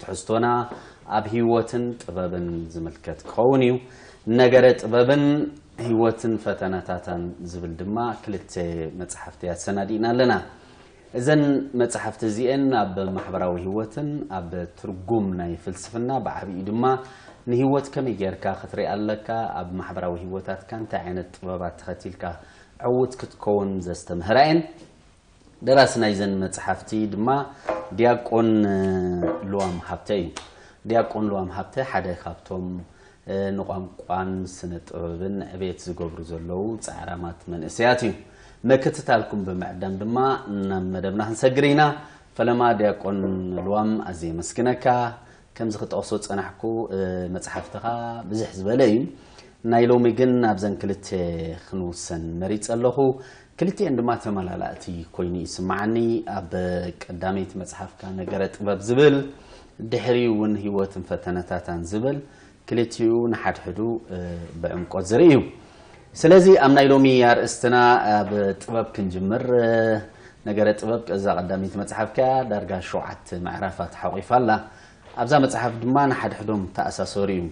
ትሕዝቶና ኣብ ህይወትን ጥበብን ዝምልከት ክኸውን እዩ። ነገረ ጥበብን ህይወትን ፈተነታታን ዝብል ድማ ክልተ መጽሓፍቲ ኣሰናዲእና ኣለና። እዘን መጽሓፍቲ እዚኤን ኣብ ማሕበራዊ ህይወትን ኣብ ትርጉም ናይ ፍልስፍና ብዓብዩ ድማ ንህይወት ከመይ ጌርካ ክትሪኣ ኣለካ፣ ኣብ ማሕበራዊ ህይወታትካ እንታይ ዓይነት ጥበባት ተኸቲልካ ዕዉት ክትከውን ዘስተምህራ እየን። ደራሲ ናይዘን መጽሓፍቲ ድማ ዲያቆን ልዋም ሃብተ እዩ። ዲያቆን ልዋም ሃብተ ሓደ ካብቶም ንቋንቋን ስነ ጥበብን ዕቤት ዝገብሩ ዘለዉ ጻዕራማት መንእሰያት እዩ። መክትታልኩም ብምዕዳም ድማ ናብ መደብና ክንሰግር ኢና። ፈለማ ዲያቆን ልዋም ኣዝየ የመስግነካ። ከምዚ ክጠቕሶ ዝጸናሕኩ መጽሓፍትኻ ብዝሕ ዝበለ እዩ። ናይ ሎሚ ግን ኣብዘን ክልተ ክንውሰን መሪጸ ኣለኹ። ክልቲኤን ድማ ተመላላእቲ ኮይኑ ይስምዓኒ። ኣብ ቀዳመይቲ መጽሓፍካ ነገረ ጥበብ ዝብል ድሕሪኡ እውን ህይወትን ፈተነታታን ዝብል ክልቲኡ ንሓድሕዱ ብዕምቆት ዝርኢ እዩ። ስለዚ ኣብ ናይ ሎሚ ኣርእስትና ኣብ ጥበብ ክንጅምር። ነገረ ጥበብ እዛ ቀዳመይቲ መጽሓፍ ከያ ዳርጋ ሸውዓተ ምዕራፋት ሓቂፋ ኣላ። ኣብዛ መጽሓፍ ድማ ንሓድሕዶም ተኣሳሰሩ እዩ።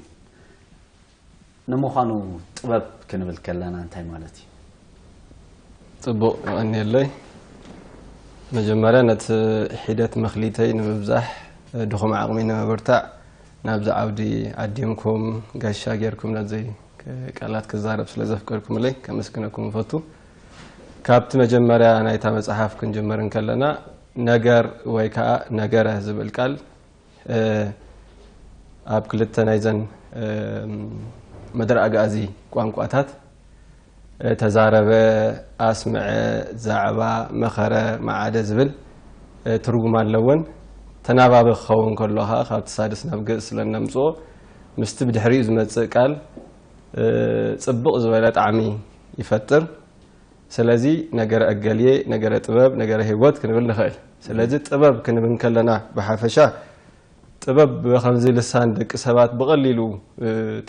ንምዃኑ ጥበብ ክንብል ከለና እንታይ ማለት እዩ? ጽቡቕ የቐንየለይ። መጀመርያ ነቲ ሒደት መክሊተይ ንምብዛሕ ድኹም ዓቕሚ ንምብርታዕ ናብዚ ዓውዲ ዓዲምኩም ጋሻ ጌርኩም ነዚ ቃላት ክዛረብ ስለ ዘፍቀድኩምለይ ከመስግነኩም እፈቱ። ካብቲ መጀመርያ ናይታ መጽሓፍ ክንጅምር እንከለና ነገር ወይ ከዓ ነገረ ዝብል ቃል ኣብ ክልተ ናይዘን መደረ ኣግኣዚ ቋንቋታት ተዛረበ፣ ኣስመዐ፣ ዛዕባ፣ መኸረ፣ መዓደ ዝብል ትርጉም ኣለወን። ተናባቢ ክኸውን ከሎ ከኣ ካብቲ ሳድስ ናብ ግእዝ ስለ እነምጽኦ ምስቲ ብድሕሪኡ ዝመጽእ ቃል ጽብቕ ዝበለ ጣዕሚ ይፈጥር። ስለዚ ነገረ እገሌ፣ ነገረ ጥበብ፣ ነገረ ህይወት ክንብል ንኽእል። ስለዚ ጥበብ ክንብል ከለና ብሓፈሻ ጥበብ ብኸምዚ ልሳን ደቂ ሰባት ብቐሊሉ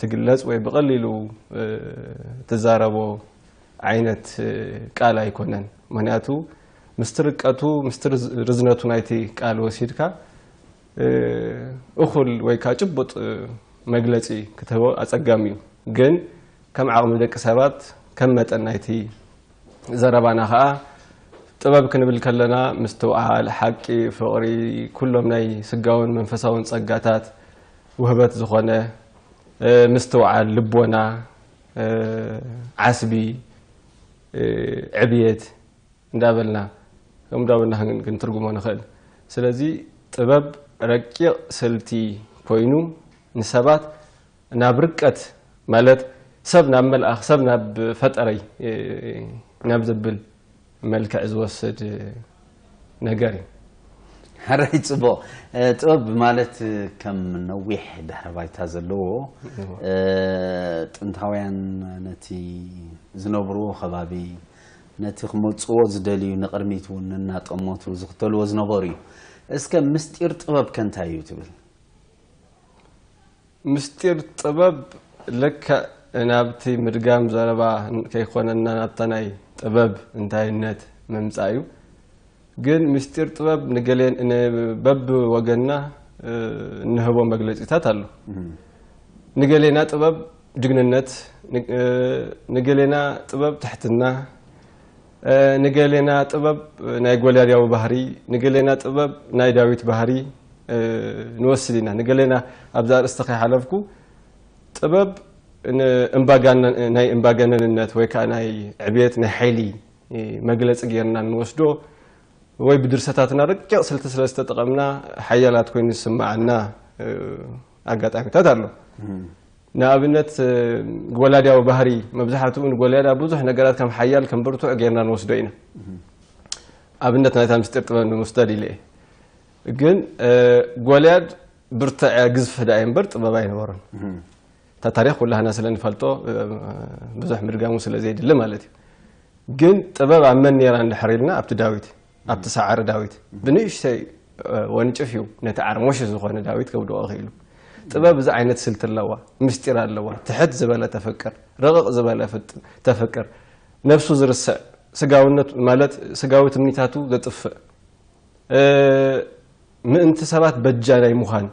ትግለጽ ወይ ብቐሊሉ ትዛረቦ ዓይነት ቃል ኣይኮነን። ምክንያቱ ምስቲ ርቀቱ ምስቲ ርዝነቱ ናይቲ ቃል ወሲድካ እኹል ወይ ከኣ ጭቡጥ መግለጺ ክትህቦ ኣጸጋሚ እዩ። ግን ከም ዓቕሚ ደቂ ሰባት ከም መጠን ናይቲ ዘረባና ከኣ ጥበብ ክንብል ከለና ምስትውዓል፣ ሓቂ፣ ፍቕሪ፣ ኩሎም ናይ ስጋውን መንፈሳውን ጸጋታት ውህበት ዝኾነ ምስትውዓል፣ ልቦና፣ ዓስቢ፣ ዕብየት እንዳበልና ከምኡ እንዳበልና ክንትርጉሞ ንኽእል። ስለዚ ጥበብ ረቂቕ ስልቲ ኮይኑ ንሰባት ናብ ርቀት ማለት ሰብ ናብ መልኣኽ ሰብ ናብ ፈጠረይ ናብ ዘብል መልክዕ ዝወስድ ነገር እዩ። ሐራይ ጽቡቅ ጥበብ ማለት ከም ነዊሕ ድሕረ ባይታ ዘለዎ ጥንታውያን ነቲ ዝነብርዎ ከባቢ ነቲ ክመጽዎ ዝደልዩ ንቅድሚት ውን እናጠመቱ ዝኽተልዎ ዝነበሩ እዩ። እስከ ምስጢር ጥበብ ከ እንታይ እዩ ትብል? ምስጢር ጥበብ ልክዕ ናብቲ ምድጋም ዘረባ ከይኮነና ናብታ ናይ ጥበብ እንታይነት ምምፃእ እዩ። ግን ምስጢር ጥበብ ንገለ በቢ ወገንና እንህቦ መግለፂታት ኣሎ። ንገሌና ጥበብ ጅግንነት፣ ንገሌና ጥበብ ትሕትና፣ ንገሌና ጥበብ ናይ ጎልያድያዊ ባህሪ፣ ንገሌና ጥበብ ናይ ዳዊት ባህሪ ንወስድ ኢና። ንገሌና ኣብዚ ኣርእስቲ ከይሓለፍኩ ጥበብ ናይ እምባገነንነት ወይ ከዓ ናይ ዕብየት ናይ ሓይሊ መግለፂ ገይርና ንወስዶ ወይ ብድርሰታትና ረቂቕ ስልቲ ስለ ዝተጠቐምና ሓያላት ኮይኑ ዝስመዓና ኣጋጣሚታት ኣሎ። ንኣብነት ጎላድያዊ ባህሪ መብዛሕትኡ ንጎላድያ ብዙሕ ነገራት ከም ሓያል ከም ብርቱዕ ጌርና ንወስዶ ኢና ኣብነት ናይታ ምስጢር ጥበብ ንምስደድ ኢለ እየ ግን ጎልያድ ብርትዐ ግዝፊ ዳእ እምበር ጥበብ ኣይነበሮን እታ ታሪክ ኩላህና ስለ ንፈልጦ ብዙሕ ምድጋሙ ስለ ዘይድሊ ማለት እዩ ግን ጥበብ ኣብ መን ነራ እንድሕር ኢልና ኣብቲ ዳዊት ኣብቲ ሳዕሪ ዳዊት ብንእሽተይ ወንጭፍ እዩ ነቲ ዓርሞሽ ዝኾነ ዳዊት ከውድቖ ክኢሉ። ጥበብ እዚ ዓይነት ስልቲ ኣለዋ፣ ምስጢር ኣለዋ፣ ትሕት ዝበለ ተፍቅር፣ ርቕቕ ዝበለ ተፍቅር፣ ነብሱ ዝርስዕ፣ ስጋውነት ማለት ስጋዊ ትምኒታቱ ዘጥፍእ፣ ምእንቲ ሰባት በጃ ናይ ምዃን፣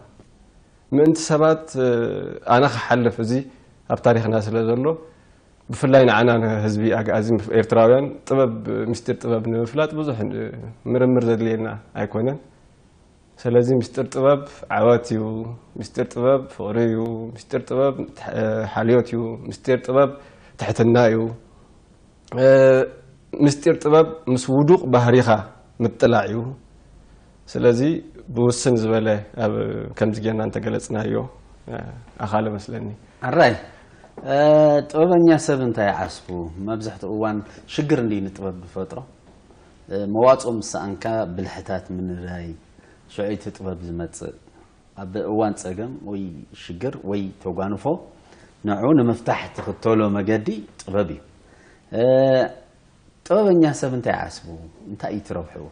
ምእንቲ ሰባት ኣነ ክሓልፍ እዚ ኣብ ታሪኽና ስለ ዘሎ፣ ብፍላይ ንዓና ንህዝቢ ኣግኣዚ ኤርትራውያን ጥበብ ምስጢር ጥበብ ንምፍላጥ ብዙሕ ምርምር ዘድልየና ኣይኮነን። ሰለዚ ምስጢር ጥበብ ዓወት እዩ፣ ምስጢር ጥበብ ፍቕሪ እዩ፣ ምስጢር ጥበብ ሓልዮት እዩ፣ ምስጢር ጥበብ ትሕትና እዩ፣ ምስጢር ጥበብ ምስ ውዱቕ ባህሪኻ ምጥላዕ እዩ፣ ስለዚ ብውስን ዝበለ ኣብ ከምዚ ጌርና እንተገለጽናዮ ኣኻለ መስለኒ። ኣራይ ጥበበኛ ሰብ እንታይ ይዓስቡ መብዛሕትኡ እዋን ሽግር እንድዩ ንጥበብ ዝፈጥሮ መዋጽኦ ምስ ሰኣንካ ብልሕታት ምንዳይ ሽዑ እዩ እቲ ጥበብ ዝመጽእ ኣብ እዋን ጸገም ወይ ሽግር ወይ ተጓንፎ ንዑ ንምፍታሕ ትኽተሎ መገዲ ጥበብ እዩ ጥበበኛ ሰብ እንታይ ይዓስቡ እንታይ እዩ እቲ ረብሕኡ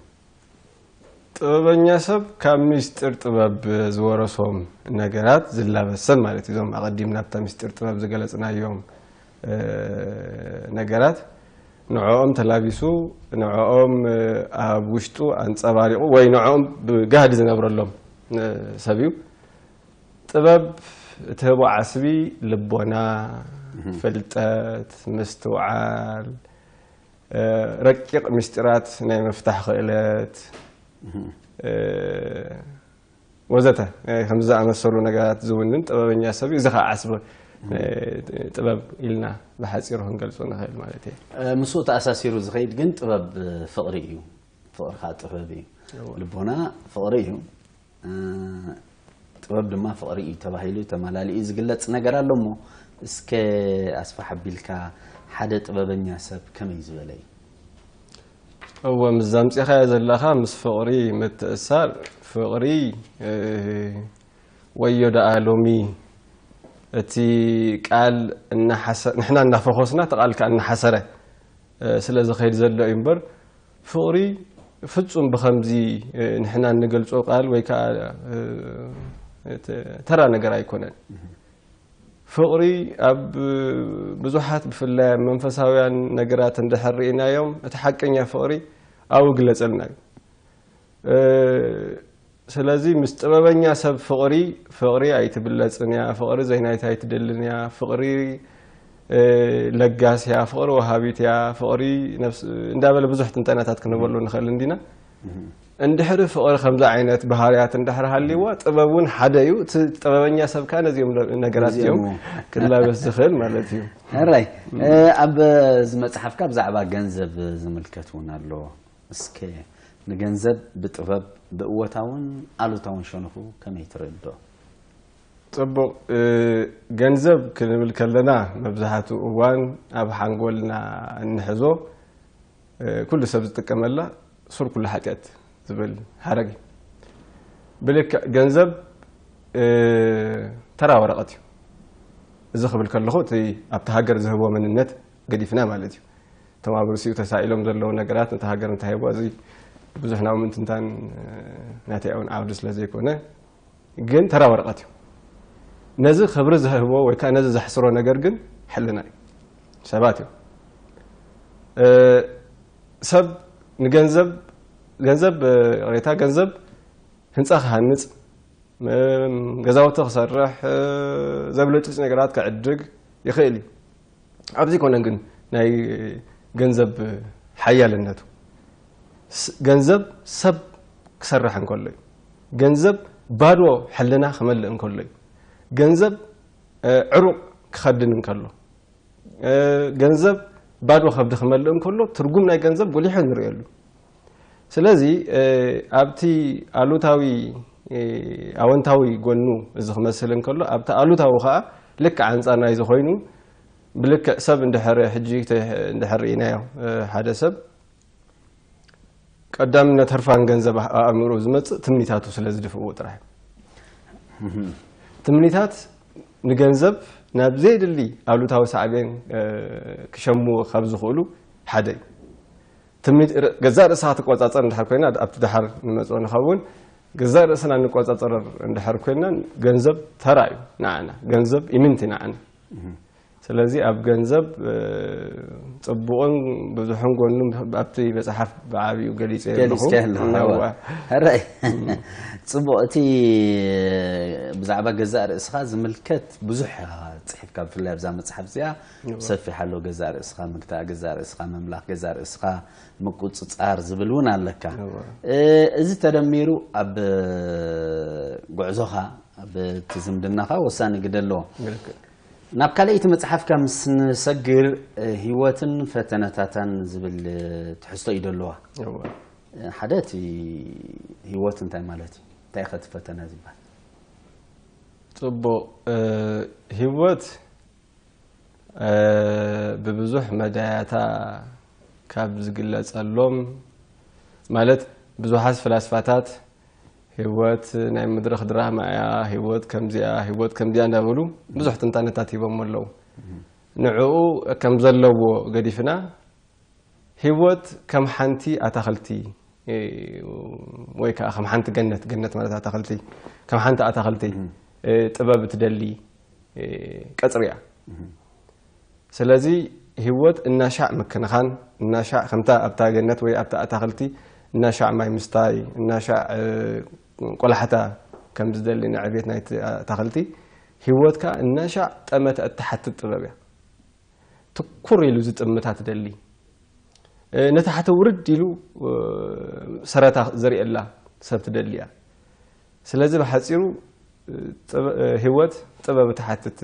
ጥበበኛ ሰብ ካብ ምስጢር ጥበብ ዝወረሶም ነገራት ዝላበስ ሰብ ማለት እዩ። እዞም ኣቐዲም ናብታ ምስጢር ጥበብ ዝገለጽናዮም ነገራት ንዕኦም ተላቢሱ ንዕኦም ኣብ ውሽጡ ኣንጸባሪቑ ወይ ንዕኦም ብጋህዲ ዝነብረሎም ሰብ እዩ። ጥበብ እትህቦ ዓስቢ ልቦና፣ ፍልጠት፣ ምስትውዓል፣ ረቂቕ ምስጢራት ናይ ምፍታሕ ክእለት ወዘተ ከምዚ ዝኣመሰሉ ነገራት ዝውንን ጥበበኛ ሰብ እዩ። እዚ ከዓ ዓስቢ ጥበብ ኢልና ብሓፂሩ ክንገልፆ ንኽእል ማለት እየ። ምስኡ ተኣሳሲሩ ዝኸይድ ግን ጥበብ ፍቕሪ እዩ። ፍቕሪ ከዓ ጥበብ እዩ። ልቦና ፍቕሪ እዩ። ጥበብ ድማ ፍቕሪ እዩ ተባሂሉ ተማላሊኡ ዝግለጽ ነገር ኣሎ እሞ እስከ ኣስፋሕ ኣቢልካ ሓደ ጥበበኛ ሰብ ከመይ ዝበለ እዩ? እወ ምስ ዛምፂኻዮ ዘለኻ ምስ ፍቕሪ ምትእሳር ፍቕሪ ወዮ ደኣ ሎሚ እቲ ቃል ንሕና እናፈኾስና እቲ ቃል ከዓ እናሓሰረ ስለዝኸይድ ዘሎ እዩ እምበር ፍቕሪ ፍጹም ብኸምዚ ንሕና እንገልጾ ቃል ወይ ከኣ ተራ ነገር ኣይኮነን። ፍቕሪ ኣብ ብዙሓት ብፍላይ ኣብ መንፈሳውያን ነገራት እንድሕር ርኢናዮም እቲ ሓቀኛ ፍቕሪ ኣው ግለጸልና እዩ። ስለዚ ምስ ጥበበኛ ሰብ ፍቕሪ ፍቕሪ ኣይትብለጽን እያ፣ ፍቕሪ ዘይናይታ ኣይትደልን እያ፣ ፍቕሪ ለጋስ እያ፣ ፍቕሪ ወሃቢት እያ፣ ፍቕሪ እንዳበለ ብዙሕ ትንተናታት ክንበሉ ንኽእል እንዲና። እንድሕሪ ፍቕሪ ከምዚ ዓይነት ባህርያት እንድሕሪ ሃልይዋ ጥበብ እውን ሓደ እዩ። እቲ ጥበበኛ ሰብ ከዓ ነዚኦም ነገራት እዚኦም ክላበስ ዝኽእል ማለት እዩ። ሕራይ ኣብ እዚ መፅሓፍካ ብዛዕባ ገንዘብ ዝምልከት እውን ኣሎ። እስከ ንገንዘብ ብጥበብ ብእወታውን ኣሉታውን ሸንኹ ከመይ ትርእዶ? ጽቡቕ፣ ገንዘብ ክንብል ከለና መብዛሕትኡ እዋን ኣብ ሓንጎልና እንሕዞ ኩሉ ሰብ ዝጥቀመላ ሱር ኩሉ ሓጢኣት ዝብል ሓረግ እዩ። ብልክዕ ገንዘብ ተራ ወረቐት እዩ። እዚ ክብል ከለኹ እቲ ኣብቲ ሃገር ዝህቦ መንነት ገዲፍና ማለት እዩ እቶም ኣብ ርእሲኡ ተሳኢሎም ዘለዉ ነገራት ነታ ሃገር እንታይ ሂቦ እዚ ብዙሕ ናብ ምንትንታን ናተይ እውን ዓውዲ ስለ ዘይኮነ ግን ተራ ወረቐት እዩ ነዚ ክብሪ ዝህቦ ወይ ከዓ ነዚ ዘሕስሮ ነገር ግን ሕልና እዩ ሰባት እዩ ሰብ ንገንዘብ ገንዘብ ሬታ ገንዘብ ህንፃ ክሃንፅ ገዛውቲ ክሰርሕ ዘብለጭልጭ ነገራት ክዕድግ ይኽእል እዩ ኣብዚ ኮነን ግን ናይ ገንዘብ ሓያልነቱ ገንዘብ ሰብ ክሰርሕ እንከሎ እዩ ገንዘብ ባዶ ሕልና ክመልእ እንከሎ እዩ ገንዘብ ዕሩቕ ክኸድን እንከሎ ገንዘብ ባዶ ከብዲ ክመልእ እንከሎ ትርጉም ናይ ገንዘብ ጎሊሑ ንርእየሉ ስለዚ ኣብቲ ኣሉታዊ ኣወንታዊ ጎኑ እዚ ክመስል እንከሎ ኣብቲ ኣሉታዊ ከዓ ልክዕ ኣንፃር ናይዚ ኮይኑ ብልክዕ ሰብ እንድሕር ሕጂ እንድሕር ርኢናዮ ሓደ ሰብ ቀዳምነት ህርፋን ገንዘብ ኣእምሮ ዝመፅእ ትምኒታቱ ስለ ዝድፍእዎ ጥራሕ ትምኒታት ንገንዘብ ናብ ዘየድሊ ኣሉታዊ ሳዕቤን ክሸምዎ ካብ ዝኽእሉ ሓደ እዩ ገዛእ ርእሳ ትቆጻጸር እንድሕር ኮይና ኣብቲ ድሓር ንመጽኦ ንኸውን ገዛእ ርእስና እንቆጻጸር እንድሕር ኮይና ገንዘብ ተራ እዩ ንዓና ገንዘብ ኢምንቲ ንዓና ስለዚ ኣብ ገንዘብ ጽቡቕን ብዙሕን ጎኑ ኣብቲ መጽሓፍ ብዓብኡ ገሊጸ ኣለኹ ሕራይ ጽቡቕ እቲ ብዛዕባ ገዛእ ርእስኻ ዝምልከት ብዙሕ ኢኻ ጽሒፍካ ብፍላይ ኣብዛ መጽሓፍ እዚኣ ሰፊሕ ኣሎ ገዛእ ርእስኻ ምግታእ፣ ገዛእ ርእስኻ ምምላኽ፣ ገዛእ ርእስኻ ምቁጽጻር ዝብል እውን ኣለካ። እዚ ተደሚሩ ኣብ ጉዕዞኻ ኣብ እቲ ዝምድናኻ ወሳኒ ግደ ኣለዎ። ናብ ካልኣይቲ መጽሓፍካ ምስ ንሰግር ህይወትን ፈተነታታን ዝብል ትሕዝቶ እዩ ደለዋ። ሓደ እቲ ህይወት እንታይ ማለት እዩ እንታይ ከ እቲ ፈተነ ዝበሃል ጽቡቕ ህይወት ብብዙሕ መዳያታ ካብ ዝግለጸሎም ማለት ብዙሓት ፍላስፋታት ህይወት ናይ መድረኽ ድራማ እያ፣ ህይወት ከምዚኣ፣ ህይወት ከምዚኣ እንዳበሉ ብዙሕ ትንታነታት ሂቦሞ ኣለዉ። ንዕኡ ከም ዘለዎ ገዲፍና ህይወት ከም ሓንቲ ኣታኽልቲ ወይ ከዓ ከም ሓንቲ ገነት ገነት ማለት ኣታኽልቲ ከም ሓንቲ ኣታኽልቲ ጥበብ ትደሊ ቀፅሪ እያ ስለዚ ህይወት እናሻዕ ምክንኻን እናሻዕ ከምታ ኣብታ ገነት ወይ ኣብታ ኣታኽልቲ እናሻዕ ማይ ምስታይ እናሻዕ ቆላሕታ ከም ዝደሊ ንዕቤት ናይ ኣታኽልቲ ህይወት ከዓ እናሻዕ ጠመተ እትሓትት ጥበብ እያ ትኩር ኢሉ ዝጥምታ ትደሊ ነታ ሓተ ውርድ ኢሉ ሰረታ ዘርእየላ ሰብ ትደሊ እያ ስለዚ ብሓፂሩ ህይወት ጥበብ እትሓትት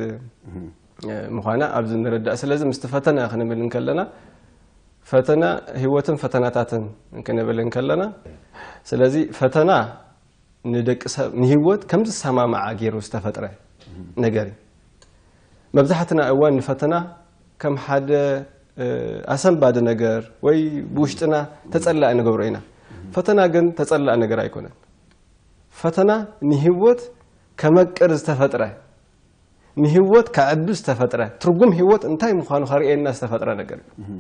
ምዃና ኣብዚ ንረዳእ ስለዚ ምስቲ ፈተና ክንብል እንከለና ፈተና ህይወትን ፈተናታትን ክንብል እንከለና ስለዚ ፈተና ንደቂ ሰብ ንህይወት ከም ዝሰማማዓ ገይሩ ዝተፈጥረ ነገር እዩ መብዛሕትና እዋን ንፈተና ከም ሓደ ኣሰንባዲ ነገር ወይ ብውሽጥና ተጸላእ ንገብሮ ኢና ፈተና ግን ተጸላእ ነገር ኣይኮነን ፈተና ንህይወት ከመቅር ዝተፈጥረ፣ ንህይወት ከዕቢ ዝተፈጥረ፣ ትርጉም ህይወት እንታይ ምዃኑ ከርእየና ዝተፈጥረ ነገር እዩ።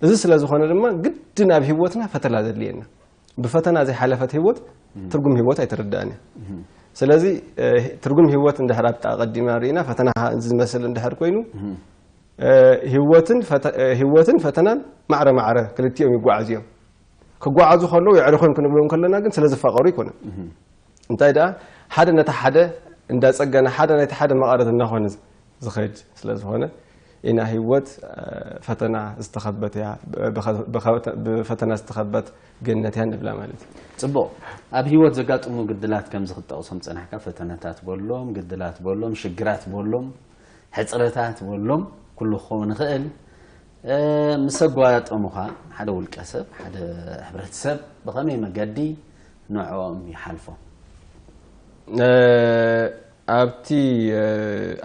እዚ ስለ ዝኾነ ድማ ግድን ኣብ ህይወትና ፈተና ዘድልየና። ብፈተና ዘይሓለፈት ህይወት ትርጉም ህይወት ኣይትርዳእን እያ። ስለዚ ትርጉም ህይወት እንድሕር ኣብቲ ኣቐዲምና ርኢና ፈተና ከዓ እዚ ዝመስል እንድሕር ኮይኑ ህይወትን ፈተናን ማዕረ ማዕረ ክልቲኦም ይጓዓዙ እዮም። ክጓዓዙ ከለዉ የዕርኹን ክንብሎም ከለና ግን ስለዝፋቐሩ ኣይኮነን እንታይ ደኣ ሓደ ነቲ ሓደ እንዳጸገነ ሓደ ናይቲ ሓደ መቐረት እናኾነ ዝኸድ ስለ ዝኾነ ኢና ህይወት ፈተና ዝተኸበት እያ ብፈተና ዝተኸበት ገነት እያ ንብላ ማለት እዩ ጽቡቕ ኣብ ህይወት ዘጋጥሙ ግድላት ከምዚ ክጠቕሶም ጸናሕካ ፈተነታት በሎም ግድላት በሎም ሽግራት በሎም ሕፅረታት በሎም ኩሉ ክኸውን ይኽእል ምስ ኣጓያጠሙኻ ሓደ ውልቀ ሰብ ሓደ ሕብረተሰብ ብኸመይ መገዲ ንዕኦም ይሓልፎም? ኣብቲ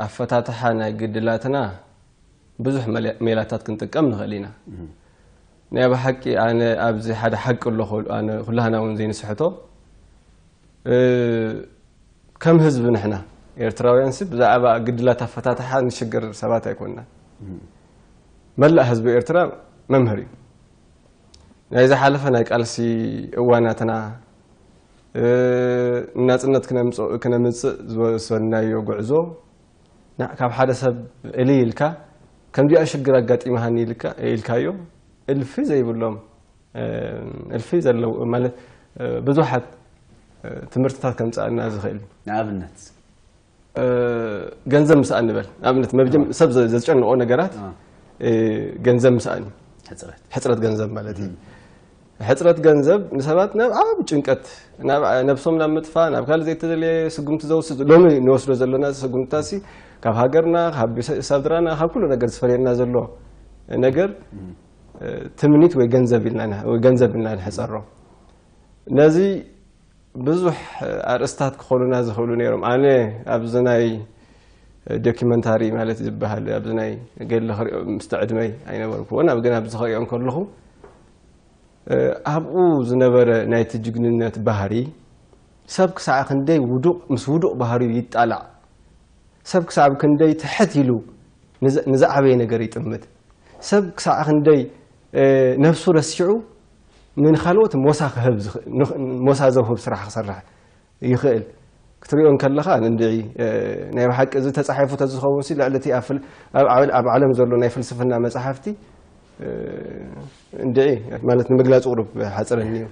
ኣፈታትሓ ናይ ግድላትና ብዙሕ ሜላታት ክንጥቀም ንኽእል ኢና። ናይ ብሓቂ ኣነ ኣብዚ ሓደ ሓቂ ኣሎ ኩላህና እውን ዘይንስሕቶ ከም ህዝቢ ንሕና ኤርትራውያንሲ ብዛዕባ ግድላት ኣፈታትሓ ንሽገር ሰባት ኣይኮንናን። መላእ ህዝቢ ኤርትራ መምህር እዩ። ናይ ዝሓለፈ ናይ ቃልሲ እዋናትና ንናጽነት ክነምጽእ ዝወሰድናዮ ጉዕዞ ካብ ሓደ ሰብ እልይ ኢልካ ከምዚኣ ሽግር ኣጋጢማሃኒ ኢልካዮ እልፊ ዘይብሎም እልፊ ዘለው ማለት ብዙሓት ትምህርትታት ከምጽኣልና ዝኽእል እዩ። ንኣብነት? ገንዘብ ምስኣን ንበል ንኣብነት መብጀም ሰብ ዘ- ዘጨንቆ ነገራት እ፣ ገንዘብ ምስኣን እዩ ሕፅረት ሕፅረት ገንዘብ ማለት እዩ ሕፅረት ገንዘብ ንሰባት ናብ ዓብ ጭንቀት ናብ ነብሶም ናብ ምጥፋእ ናብ ካልእ ዘይተደለየ ስጉምቲ ዘውስድ ሎሚ ንወስዶ ዘለና ስጉምትታት ሲ ካብ ሃገርና ካብ ቤተ- ስድራና ካብ ኩሉ ነገር ዝፈለየና ዘሎ ነገር እ፣ ትምኒት ወይ ገንዘብ ኢልና ን- ወይ ገንዘብ ኢልና ንሕፀሮ ነዚ ብዙሕ ኣርእስታት ክኾኑና ዝኽእሉ ነይሮም። ኣነ ኣብዚ ናይ ዶኪመንታሪ ማለት ዝበሃል ኣብዚ ናይ ገድሊ ክሪኦ ምስቲ ዕድመይ ኣይነበርኩዎን ኣብ ግን ኣብዚ ክሪኦ እንከለኹ ኣብኡ ዝነበረ ናይቲ ጅግንነት ባህሪ ሰብ ክሳዕ ክንደይ ውዱቕ ምስ ውዱቕ ባህሪኡ ይጣላዕ ሰብ ክሳብ ክንደይ ትሕት ኢሉ ንዝዓበየ ነገር ይጥምት ሰብ ክሳዕ ክንደይ ነፍሱ ረሲዑ ንኻልኦት ሞሳ ክህብ ሞሳ ዘውህብ ስራሕ ክሰርሕ ይኽእል ክትሪኦ እንከለኻ እንድዒ ናይ ብሓቂ እዚ ተጻሒፉ ተዝኸውን ሲ ልዕሊ እቲ ኣብ ዓለም ዘሎ ናይ ፍልስፍና መጻሕፍቲ እንድዒ ማለት ንምግላጽ ቁሩብ ሓጽረኒ እዩ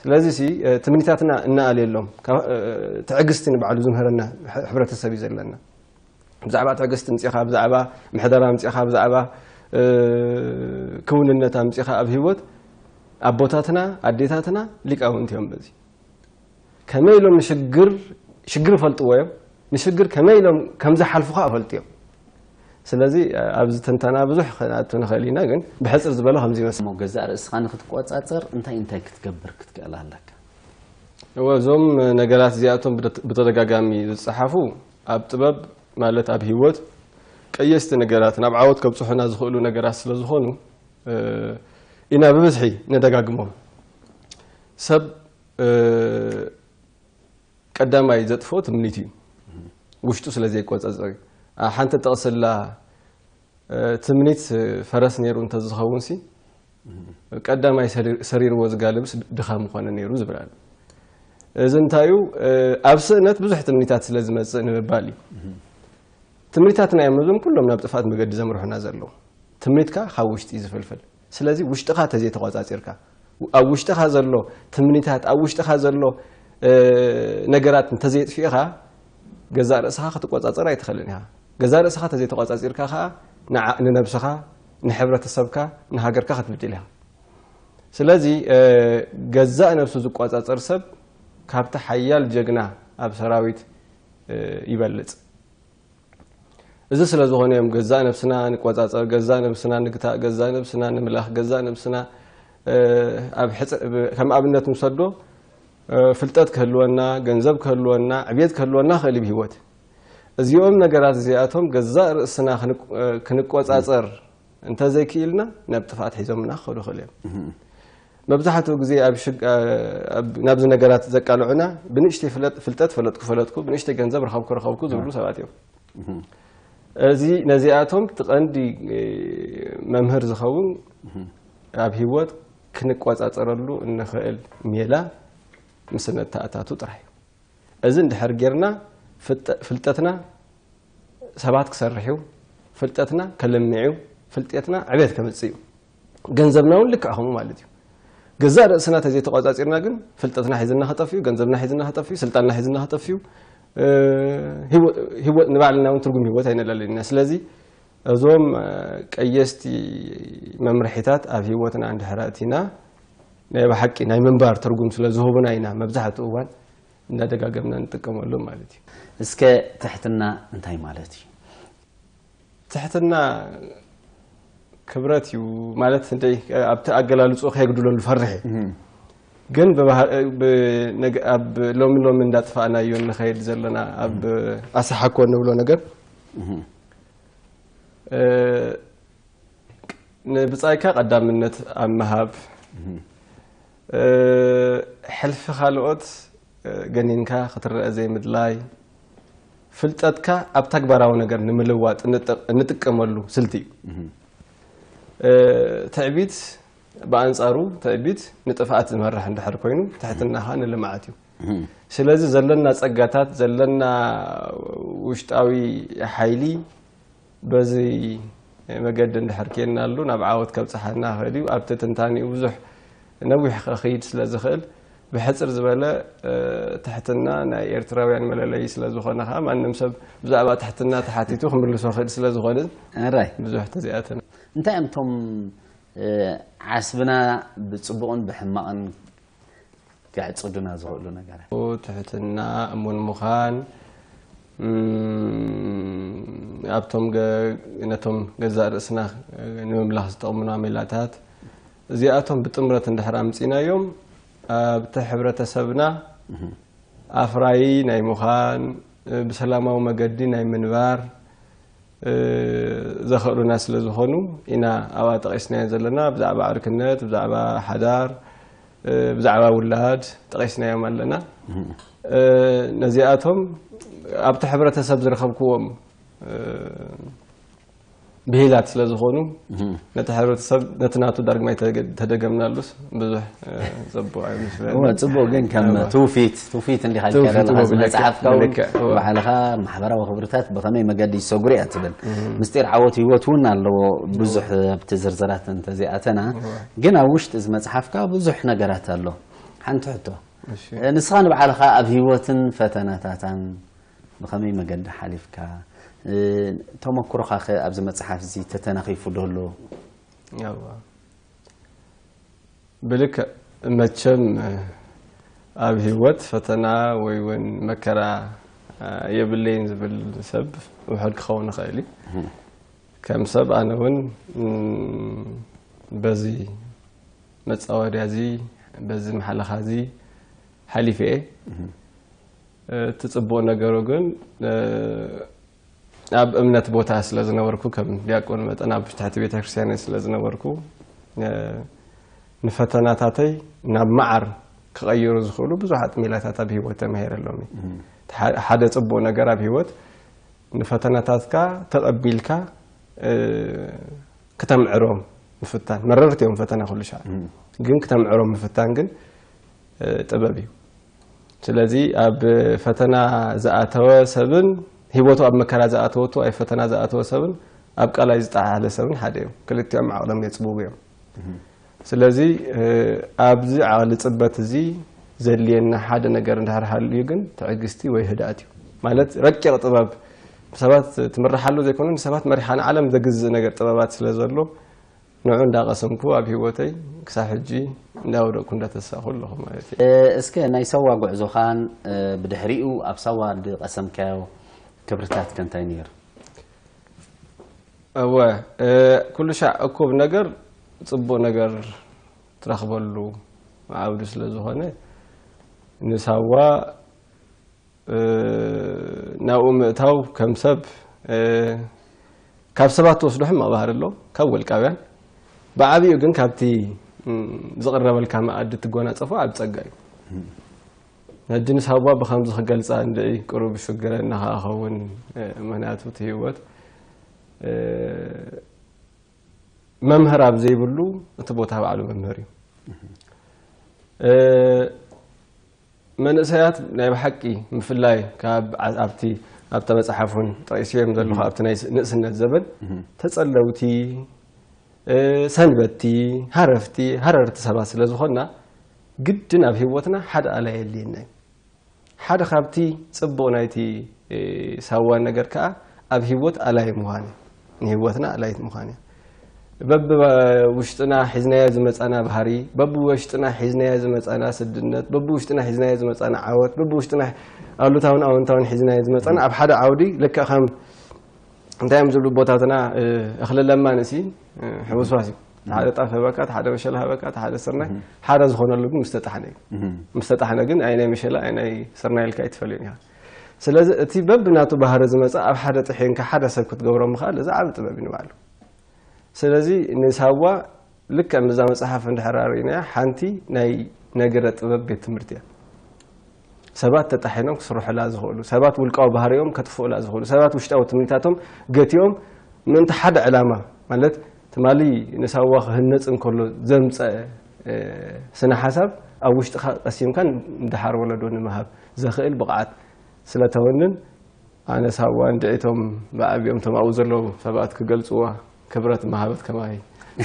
ስለዚ ሲ ትምኒታትና እናኣልየሎም ትዕግስቲ ንባዕሉ ዝምህረና ሕብረተሰብ እዩ ዘለና ብዛዕባ ትዕግስቲ ምፅኻ ብዛዕባ ምሕደራ ምፅኻ ብዛዕባ ክውንነት ኣምፅኻ ኣብ ሂወት ኣቦታትና ኣዴታትና ሊቃውንቲ እዮም በዚ ከመይ ኢሎም ንሽግር ሽግር ይፈልጥዎ እዮም ንሽግር ከመይ ኢሎም ከምዝሓልፉ ከዓ ፈልጡ እዮም ስለዚ ኣብዚ ትንተና ብዙሕ ክንኣቱ ንኽእል ኢና ግን ብሕፅር ዝበሎ ከምዚ ይመስል ገዛእ ርእስኻ ንክትቆፃፀር እንታይ እንታይ ክትገብር ክትክእል ኣለካ እዞም ነገራት እዚኣቶም ብተደጋጋሚ ዝፀሓፉ ኣብ ጥበብ ማለት ኣብ ህይወት ቀየስቲ ነገራት ናብ ዓወት ከብጽሑና ዝኽእሉ ነገራት ስለ ዝኾኑ ኢና ብብዝሒ ነደጋግሞም። ሰብ ቀዳማይ ዘጥፍኦ ትምኒት እዩ፣ ውሽጡ ስለ ዘይቆጸጸር እዩ። ሓንቲ ጠቕሲ ኣላ፣ ትምኒት ፈረስ ነይሩ እንተዝኸውንሲ ቀዳማይ ሰሪርዎ ዝጋልብስ ድኻ ምኾነ ነይሩ ዝብል ኣሎ እዚ እንታይ እዩ ኣብ ስእነት ብዙሕ ትምኒታት ስለ ዝመፅእ ንምባል እዩ ትምኒታትና እዮም እዞም ኩሎም ናብ ጥፍኣት መገዲ ዘምርሑና ዘለዉ ትምኒትካ ካብ ውሽጢ ዝፍልፍል ስለዚ ውሽጥኻ ተዘይተቖጻጺርካ ኣብ ውሽጥኻ ዘሎ ትምኒታት ኣብ ውሽጥኻ ዘሎ ነገራት እንተዘየጥፊእኻ ገዛእ ርእስኻ ክትቆጻጸር ኣይትኽእልን ኢኻ። ገዛእ ርእስኻ ተዘይተቖጻጺርካ ከኣ ንዓ ንነብስኻ ንሕብረተሰብካ ንሃገርካ ክትብድል ኢኻ። ስለዚ ገዛእ ነብሱ ዝቆጻጸር ሰብ ካብቲ ሓያል ጀግና ኣብ ሰራዊት ይበልጽ። እዚ ስለ ዝኾነ እዮም ገዛእ ነብስና ንቆጻጸር፣ ገዛእ ነብስና ንግታእ፣ ገዛእ ነብስና ንምለኽ፣ ገዛእ ነብስና ከም ኣብነት ንውሰዶ ፍልጠት ክህልወና፣ ገንዘብ ክህልወና፣ ዕብየት ክህልወና ክእል እዩ ብህይወት። እዚኦም ነገራት እዚኣቶም ገዛእ ርእስና ክንቆጻጸር እንተዘይክኢልና ናብ ጥፍኣት ሒዞምና ክኸዱ ይኽእሉ እዮም። መብዛሕትኡ ግዜ ናብዚ ነገራት ዘቃልዑና ብንእሽተይ ፍልጠት ፈለጥኩ ፈለጥኩ ብንእሽተይ ገንዘብ ረኸብኩ ረኸብኩ ዝብሉ ሰባት እዮም። እዚ ነዚኣቶም እቲ ቀንዲ መምህር ዝኸውን ኣብ ሂወት ክንቆጻጸረሉ እንኽእል ሜላ ምስ እነተኣታቱ ጥራሕ እዩ። እዚ እንድሕር ጌርና ፍልጠትና ሰባት ክሰርሕ እዩ፣ ፍልጠትና ከልምዕ እዩ፣ ፍልጠትና ዕቤት ከምጽእ እዩ። ገንዘብና ውን ልክዕ ከምኡ ማለት እዩ። ገዛእ ርእስና ተዘይተቋጻጺርና ግን ፍልጠትና ሒዝና ክጠፍዩ፣ ገንዘብና ሒዝና ክጠፍዩ፣ ስልጣንና ሒዝና ክጠፍዩ፣ ንባዕልና ውን ትርጉም ህይወት ኣይነላልን ኢና። ስለዚ እዞም ቀየስቲ መምርሒታት ኣብ ህይወትና እንድሕር ኣእቲና ናይ ብሓቂ ናይ ምንባር ትርጉም ስለ ዝህቡና ኢና መብዛሕትኡ እዋን እንዳደጋገምና ንጥቀመሎም ማለት እዩ። እስከ ትሕትና እንታይ ማለት እዩ? ትሕትና ክብረት እዩ ማለት እንደይ ኣብቲ ኣገላልጹ ከየጉድለሉ ፈርሕ ግን ኣብ ሎሚ ሎሚ እንዳጥፋእናዮ ንኸይድ ዘለና ኣብ ኣሰሓኮ ንብሎ ነገር ንብፃይካ ቀዳምነት ኣብ ምሃብ ሕልፊ ካልኦት ገኒንካ ክትረኣ ዘይምድላይ ፍልጠትካ ኣብ ተግባራዊ ነገር ንምልዋጥ እንጥቀመሉ ስልቲ እዩ። ትዕቢት ብኣንጻሩ ትዕቢት ንጥፍኣት ዝመርሕ እንድሕር ኮይኑ ትሕትና ኸኣ ንልምዓት እዩ። ስለዚ ዘለና ጸጋታት ዘለና ውሽጣዊ ሓይሊ በዚ መገዲ እንድሕር ኬድናሉ ናብ ዓወት ከብጽሓና ይኽእል እዩ። ኣብቲ ትንታኔኡ ብዙሕ ነዊሕ ከክይድ ስለ ዝኽእል ብሕጽር ዝበለ ትሕትና ናይ ኤርትራውያን መለለዪ ስለ ዝኾነ ከኣ ማንም ሰብ ብዛዕባ ትሕትና ተሓቲቱ ክምልሶ ክእል ስለ ዝኾንን ኣራይ ብዙሕ ተዘይኣተና እንታይ እዮም እቶም ዓስብና ብጽቡቕን ብሕማቕን ከዕፅዱና ዝኽእሉ ነገራት። ትሕትና፣ እሙን ምዃን፣ ኣብቶም ነቶም ገዛእ ርእስና ንምምላኽ ዝጠቕሙና ሜላታት እዚኣቶም ብጥምረት እንድሕር ኣምፂናዮም ኣብቲ ሕብረተሰብና ኣፍራዪ ናይ ምዃን ብሰላማዊ መገዲ ናይ ምንባር ዘኸእሉና ስለዝኾኑ ኢና ኣብኣ ጠቒስናየን ዘለና ብዛዕባ ዕርክነት ብዛዕባ ሓዳር ብዛዕባ ውላድ ጠቒስናዮም ኣለና ነዚኣቶም ኣብቲ ሕብረተሰብ ዝረኸብክዎም ብሂላት ስለዝኾኑ ነቲ ሕብረተሰብ ነቲ ናቱ ዳርግማይ ተደገምናሉስ ብዙሕ ፅቡቅ ኣይመስለንን ፅቡቅ ግን ከም ትውፊት ትውፊት እንዲኻ ትውፊት ልካ ዘለኻ እዎ ብልክዕ፣ መፅሓፍ ካውን ብልክዕ፣ እዎ። ባዕልኻ ማሕበራዊ ክብርታት ብኸመይ መገዲ ይሰጉሩ እያ ትብል ምስጢር ዓወት ህይወት እውን ኣለዎ ብዙሕ ኣብቲ ዝርዝራት እንተዘይኣተና ግን ኣብ ውሽጢ እዚ መፅሓፍካ ብዙሕ ነገራት ኣሎ ሓንቲ ሕቶ እሺ። ንስኻ ንባዕልኻ ኣብ ህይወትን ፈተናታታን ብኸመይ መገዲ ሓሊፍካ እ፣ ተመኩሮኻ ከ ኣብዚ መፅሓፍ እዚ ተተናኺፉ ዶ ኣሎ ያዋ ብልክዕ መቸም ኣብ ሂወት ፈተና ወይ ውን መከራ የብለይን ዝብል ሰብ ውሑድ ክኸውን ይኽእል እዩ። ከም ሰብ ኣነ ውን በዚ መጻወድያ እዚ በዚ ማሕለኻ እዚ ሓሊፈ እየ። እቲ ጽቡቕ ነገሩ ግን ኣብ እምነት ቦታ ስለ ዝነበርኩ ከም ዲያቆን መጠን ኣብ ትሕቲ ቤተ ክርስቲያን እየ ስለ ዝነበርኩ እ፣ ንፈተናታተይ ናብ መዓር ክቐይሩ ዝኽእሉ ብዙሓት ሜላታት ኣብ ህይወት ተማሂረ ሎሚ እቲ ሐ- ሓደ ጽቡቕ ነገር ኣብ ህይወት ንፈተናታትካ ተቐቢልካ እ፣ ክተምዕሮም ምፍታን መረርቲ እዮም ፈተና ኩሉ ሻዕ ግን ክተምዕሮም ምፍታን ግን እ፣ ጥበብ እዩ ስለዚ ኣብ ፈተና ዝኣተወ ሰብን ሂወቱ ኣብ መከራ ዝኣተወቱ ኣብ ፈተና ዝኣተወ ሰብን ኣብ ቀላይ ዝጠሓለ ሰብን ሓደ እዮም። ክልቲኦም ዓቕሎም የጽብቡ እዮም። ስለዚ ኣብዚ ዓቕሊ ጽበት እዚ ዘድልየና ሓደ ነገር እንድሕር ሃልዩ ግን ትዕግስቲ ወይ ህድኣት እዩ። ማለት ረቂቕ ጥበብ ሰባት ትምርሓሉ ዘይኮነ ንሰባት መሪሓ ንዓለም ዘግዝእ ነገር ጥበባት ስለ ዘሎ ንዑ እንዳቀሰምኩ ኣብ ሂወተይ ክሳብ ሕጂ እንዳወደቅኩ እንዳተሳኩ ኣለኩ ማለት እየ። እስከ ናይ ሳዋ ጉዕዞካን ብድሕሪኡ ኣብ ሳዋ ድቀሰምካዮ ክብርታት ከ እንታይ ነይሩ? እወ ኩሉ ሻዕ እኩብ ነገር ጽቡቅ ነገር ትረክበሉ ዓውዲ ስለ ዝኮነ ንሳዋ ናብኡ ምእታው ከም ሰብ ካብ ሰባት ትወስዶ ሕማቕ ባህሪ ኣሎ ካብ ወልቃውያን ብዓብኡ ግን ካብቲ ዝቕረበልካ መኣዲ ትጎናጸፎ ዓብ ጸጋ እዩ ሕጂ ምስ ሃዋ ብከምዚ ክገልጻ እንድዒ ቅሩብ ይስግረኒ ከኣ ኸውን ምክንያቱ እቲ ህይወት መምህር ኣብ ዘይብሉ እቲ ቦታ ባዕሉ መምህር እዩ መንእሰያት ናይ ብሓቂ ምፍላይ ካብ ኣብቲ ኣብታ መጽሓፍ እውን ጠቂስዮም ዘለኹ ኣብቲ ናይ ንእስነት ዘበን ተጸለውቲ ሰንበቲ ሃረፍቲ ሃረርቲ ሰባት ስለ ዝኾንና ግድን ኣብ ህይወትና ሓደ ኣላ የድልየና እዩ ሓደ ካብቲ ጽቡቕ ናይቲ ሳዋ ነገር ከዓ ኣብ ህይወት ኣላይ ምዃን እዩ ንህይወትና ኣላይት ምዃን እያ። በብውሽጥና ሒዝናዮ ዝመፃና ባህሪ፣ በብውሽጥና ሒዝናዮ ዝመፃና ስድነት፣ በብውሽጥና ሒዝናዮ ዝመፃና ዓወት፣ በብውሽጥና ኣሉታውን ኣወንታውን ሒዝናዮ ዝመፃና ኣብ ሓደ ዓውዲ ልክዕ ከም እንታይ እዮም ዝብሉ ቦታትና እኽሊ ለማን እሲ ሕውስዋስ እዩ ሓደ ጣፍ ሃበካ እቲ ሓደ መሸላ ሃበካ እቲ ሓደ ስርናይ ሓደ ዝኾነሉ ግን ምስተጣሕነ እዩ ምስተጣሕነ ግን ኣይ ናይ መሸላ ኣይ ናይ ስርናይ ኢልካ ኣይትፈልዮን ኢኻ ስለዚ እቲ በብናቱ ባህሪ ዝመጸ ኣብ ሓደ ጥሒንካ ሓደ ሰብ ክትገብሮ ምኽኣል እዚ ዓቢ ጥበብ እዩ ንባዕሉ። ስለዚ ንሳዋ ልክዕ ምስዛ መጽሓፍ እንድሕር ኣርኢናያ ሓንቲ ናይ ነገረ ጥበብ ቤት ትምህርቲ እያ። ሰባት ተጣሒኖም ክስርሑላ ዝኽእሉ፣ ሰባት ውልቃዊ ባህሪኦም ከጥፍኡላ ዝኽእሉ፣ ሰባት ውሽጣዊ ትምኒታቶም ገቲኦም ምእንቲ ሓደ ዕላማ ማለት ትማሊ ንሳዋ ክህነጽ እንከሎ ዘምጸእ ስነ ሓሳብ ኣብ ውሽጥኻ ቀሲምካ ንደሓር ወለዶ ንምሃብ ዘኽእል ብቕዓት ስለተወንን ኣነ ሳዋ እንድዒ እቶም ብዓቢኦም እቶም ኣብኡ ዘለዉ ሰባት ክገልጽዋ ክብረት ምሃበት ከማይ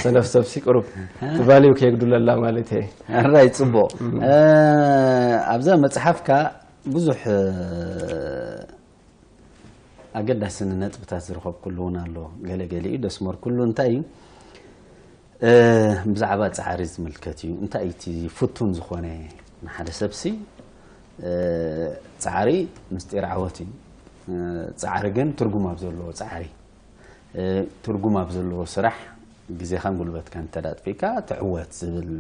ሰነፍ ሰብሲ ቅሩብ ትቫልዩ ከየግዱለላ ማለት እየ ኣራይ ጽቡቕ ኣብዛ መጽሓፍካ ብዙሕ ኣገዳሲ ነጥብታት ዝረኸብኩሉ እውን ኣሎ ገለ ገሊኡ ደስመርኩሉ እንታይ እዩ ብዛዕባ ፃዕሪ ዝምልከት እዩ እንታይ እቲ ፍቱን ዝኾነ ንሓደ ሰብሲ ፃዕሪ ምስጢር ዓወት እዩ ፃዕሪ ግን ትርጉም ኣብ ዘለዎ ፃዕሪ ትርጉም ኣብ ዘለዎ ስራሕ ግዜኻን ጉልበትካን እንተ ኣጥፊእካ ትዕወት ዝብል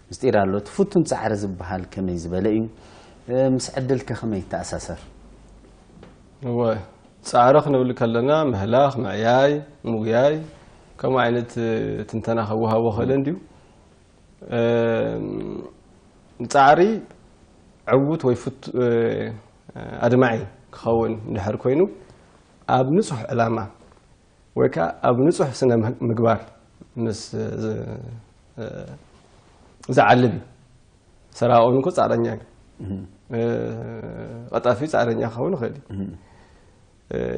ምስጢር ኣሎ። እቲ ፍቱን ጻዕሪ ዝበሃል ከመይ ዝበለ እዩ? ምስ ዕድል ከ ከመይ ይተኣሳሰር? እወ ጻዕሪ ክንብል ከለና ምህላኽ፣ ምዕያይ፣ ምጉያይ ከምኡ ዓይነት ትንተና ከወሃቦ ክእል እንድዩ። ጻዕሪ ዕዉት ወይ ኣድማዒ ክኸውን እንድሕር ኮይኑ ኣብ ንጹህ ዕላማ ወይ ከኣ ኣብ ንጹህ ስነ ምግባር ምስ ዝዓልብ እዩ። ሰራቂ እኮ ጻዕረኛ እዩ። ቀጣፊ ጻዕረኛ ክኸውን ይኽእል እዩ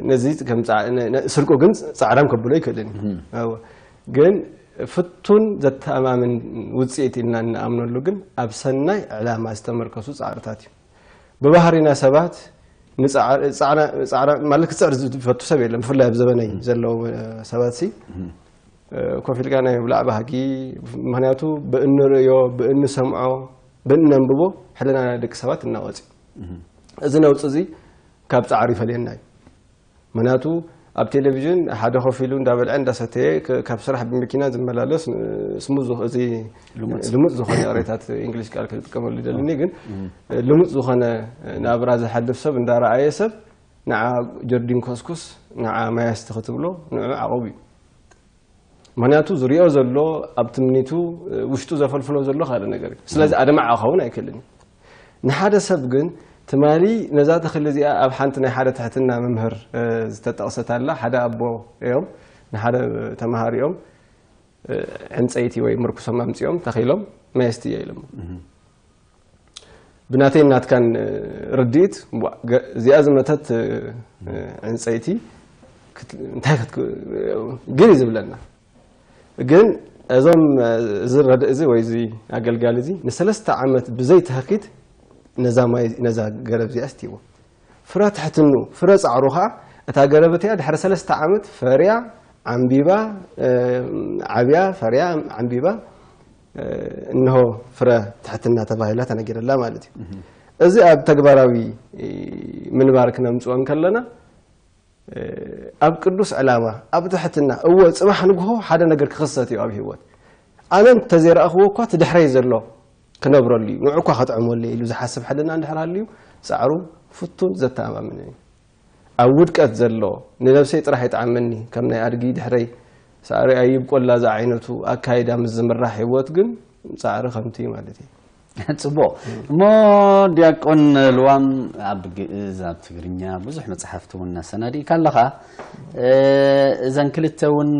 ነዚ ስርቁ ግን ጻዕራም ከብሎ ይክእልን እዩ ግን ፍቱን ዘተኣማምን ውፅኢት ኢልና እንኣምነሉ ግን ኣብ ሰናይ ዕላማ ዝተመርከሱ ፃዕርታት እዩ ብባህሪና ሰባት ማለት ክፅዕር ዝፈቱ ሰብ የለን ብፍላይ ኣብ ዘበነይ ዘለዉ ሰባት ሲ ኮፍ ኢልካ ናይ ብላዕ ባህጊ ምክንያቱ ብእንርእዮ ብእንሰምዖ ብእነንብቦ ሕልና ናይ ደቂ ሰባት እናወፅ እዩ እዚ ነውፂ እዚ ካብ ፃዕሪ ይፈልየና እዩ ምክንያቱ ኣብ ቴሌቪዥን ሓደ ኮፍ ኢሉ እንዳበልዐ እንዳሰተየ ካብ ስራሕ ብመኪና ዝመላለስ ስሙዝ እዚ ልሙፅ ዝኾነ ቅሬታት እንግሊዝ ቃል ክጥቀመሉ ይደልኒ ግን ልሙፅ ዝኾነ ናብራ ዝሓልፍ ሰብ እንዳረኣየ ሰብ ንዓ ጀርዲን ኮስኩስ ንዓ ማያስቲ ክትብሎ ንዑ ዓቐብ እዩ ምክንያቱ ዝሪኦ ዘሎ ኣብ ትምኒቱ ውሽጡ ዘፈልፍሎ ዘሎ ካልእ ነገር እዩ ስለዚ ኣድማዕ ክኸውን ኣይክእልን እዩ ንሓደ ሰብ ግን ትማሊ ነዛ ተኽሊ እዚኣ ኣብ ሓንቲ ናይ ሓደ ትሕትና መምህር ዝተጠቕሰት ኣላ ሓደ ኣቦ እዮም ንሓደ ተምሃሪኦም ዕንፀይቲ ወይ ምርኩሶም ኣምፂኦም ተኺሎም መየስቲ እየ ኢሎሞ ብናተይን ናትካን ርድኢት እዚኣ ዝመተት ዕንፀይቲ እንታይ ግር እዩ ዝብለና ግን እዞም እዚ ረድእ እዚ ወይ እዚ ኣገልጋሊ እዚ ንሰለስተ ዓመት ብዘይ ተህኪት ነዛ ማይ ነዛ ገረብ እዚኣ ስትይዎ ፍረ ትሕትኑ ፍረ ፃዕሩ ከዓ እታ ገረብ እቲኣ ድሕሪ ሰለስተ ዓመት ፈርያ ዓምቢባ ዓብያ ፈርያ ዓምቢባ እንሆ ፍረ ትሕትና ተባሂላ ተነጊረላ ማለት እዩ እዚ ኣብ ተግባራዊ ምንባር ክነምፅኦ እንከለና ኣብ ቅዱስ ዕላማ ኣብ ትሕትና እወ ፅባሕ ንግሆ ሓደ ነገር ክኽሰት እዩ ኣብ ህይወት ኣነ እንተዘይረእኽዎ እኳ ትድሕረይ ዘሎ ክነብረሉ እዩ ንዑ እኳ ከጥዕመሉ ኢሉ ዝሓስብ ሕልና እንድሕር ሃልዩ ፃዕሩ ፍቱን ዘተኣማምን እዩ ኣብ ውድቀት ዘሎ ንነብሰይ ጥራሕ ይጥዓመኒ ከም ናይ ኣድጊ ድሕረይ ሳዕሪ ኣይብቆላ ዝዓይነቱ ኣካይዳ ምስ ዝምራሕ ሂወት ግን ጻዕሪ ከምቲ ማለት እየ። ጽቡቕ እሞ ዲያቆን ልዋም ኣብ ግእዝ ኣብ ትግርኛ ብዙሕ መጽሓፍቲ እውን ኣሰናዲእካ ኣለኻ እዘን ክልተ እውን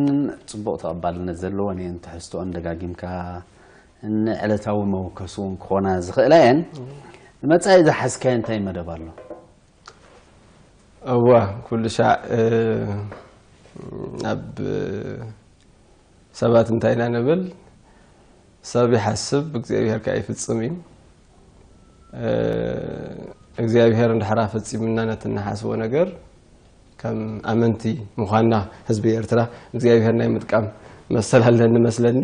ጽቡቕ ተቐባልነት ዘለወን እየን ትሕዝትኦን ደጋጊምካ ንዕለታዊ መወከሲ እውን ክኾና ዝኽእላ እየን ንመጻኢ ዝሓዝካዮ እንታይ መደብ ኣሎ እወ ኩሉሻዕ ኣብ ሰባት እንታይ ኢና ንብል ሰብ ይሓስብ እግዚኣብሄር ከኣ ይፍጽም እዩ እግዚኣብሄር እንድሕራ ፈጺምና ነቲ እንሓስቦ ነገር ከም ኣመንቲ ምዃንና ህዝቢ ኤርትራ እግዚኣብሄር ናይ ምጥቃም መሰል ኣለኒ መስለኒ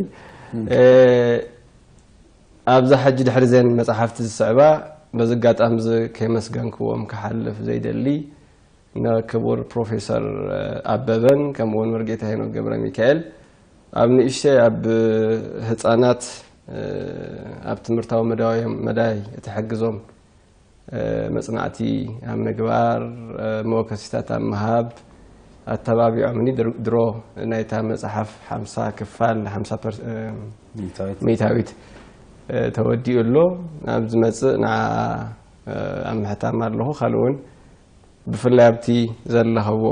ኣብዛ ሕጂ ድሕሪ ዘን መጻሕፍቲ ዝስዕባ በዚ ኣጋጣሚዚ ከየመስገንክዎም ክሓልፍ ዘይደሊ ን ክቡር ፕሮፌሰር ኣበበን ከምኡ ውን መርጌታ ሄኖክ ገብረሚካኤል ኣብ ንእሽተይ ኣብ ህጻናት ኣብ ትምህርታዊ መዳዮም መዳይ እትሕግዞም መጽናዕቲ ኣብ ምግባር፣ መወከሲታት ኣብ ምሃብ ኣተባቢዖምኒ። ድሮ ናይታ መጽሓፍ ሓምሳ ክፋል፣ ሓምሳ ሚእታዊት ተወዲኡ ኣሎ። ኣብ ዝመጽእ ንዓኣ ኣብ ምሕታም ኣለኹ። ካልእ እውን ብፍላይ ኣብቲ ዘለኸዎ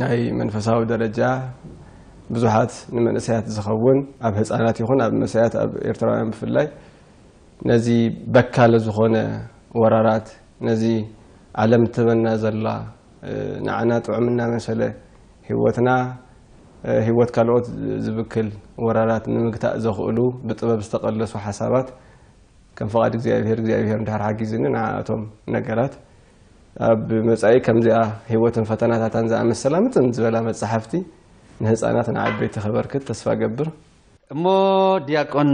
ናይ መንፈሳዊ ደረጃ ብዙሓት ንመንእሰያት ዝኸውን ኣብ ህጻናት ይኹን ኣብ መሰያት ኣብ ኤርትራውያን ብፍላይ ነዚ በካሊ ዝኾነ ወራራት ነዚ ዓለም ትህበና ዘላ ንዓና ጥዑም እናመሰለ ህይወትና ህይወት ካልኦት ዝብክል ወራራት ንምግታእ ዘኽእሉ ብጥበብ ዝተቐለሱ ሓሳባት ከም ፍቓድ እግዚኣብሔር እግዚኣብሔር እንድሕር ሓጊዙኒ ንዓኣቶም ነገራት ኣብ መጻኢ ከምዚኣ ህይወትን ፈተናታታን ዝኣመሰላ ምጥን ዝበላ መጻሕፍቲ ንህፃናት ንዓበይቲ ከበርክት ተስፋ ገብር እሞ ድያቆን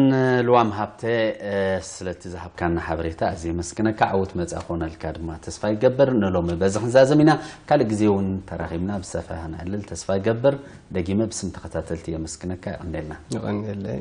ልዋም ሃብተ ስለቲ ዝሃብካና ሓበሬታ ኣዝየ የመስግነካ ዓውት መጻ ክኾነልካ ድማ ተስፋ ይገብር ንሎሚ በዚ ክንዛዘም ኢና ካልእ ግዜ እውን ተራኺብና ብሰፈህ ንዕልል ተስፋ ይገብር ደጊመ ብስም ተኸታተልቲ የመስግነካ የቐንየልና የቐንየለይ